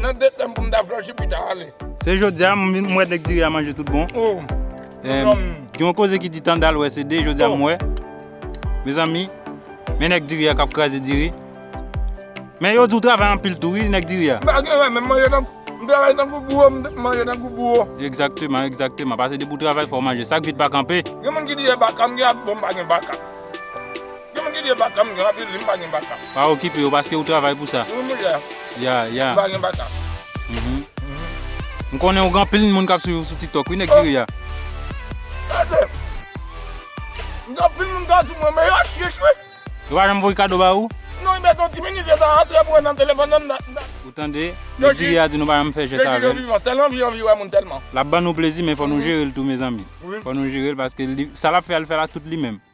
Nan de tanm pou m ta flanche pita ale. Se jodi a m wè nèg diri a manje tout bon. Gen yon koze ki di tande al wè se de jodi a m wè. Mezanmi men nèg diri a k ap kraze diri. Men yo di w travay anpil tou wi nèg diri a. M pa gen rèn men m manje tankou m travay tankou bouro m manje tankou bouro. Egzakteman egzakteman pase depi w travay fò w manje sak vit pa kanpe. Gen moun ki di e baka m gen ak bon m pa gen baka. Yon ki gen baka m gen anpil wi m pa gen baka. Pa okipe yo paske ou travay pou sa. Wi mouche. Ya ya. M pa gen baka. M konnen ou gen anpil moun kap swiv ou sou tiktok wi nèg diri ya. Gade. M gen anpil moun kap swiv mwen men yo chye chwe. Yo pa janm voye kado ba ou? Non yo met yon ti minit yo ta antre pou yo nan telefòn nan m ta. Ou tande. Nèg diri ya di nou pa janm fè jès avèl. Sèl anvi anvi wè moun tèlman. Lap ban nou plezi men fò nou jere l tou mezanmi. Fò nou jere l paske sa lap fè al fè la tout li menm.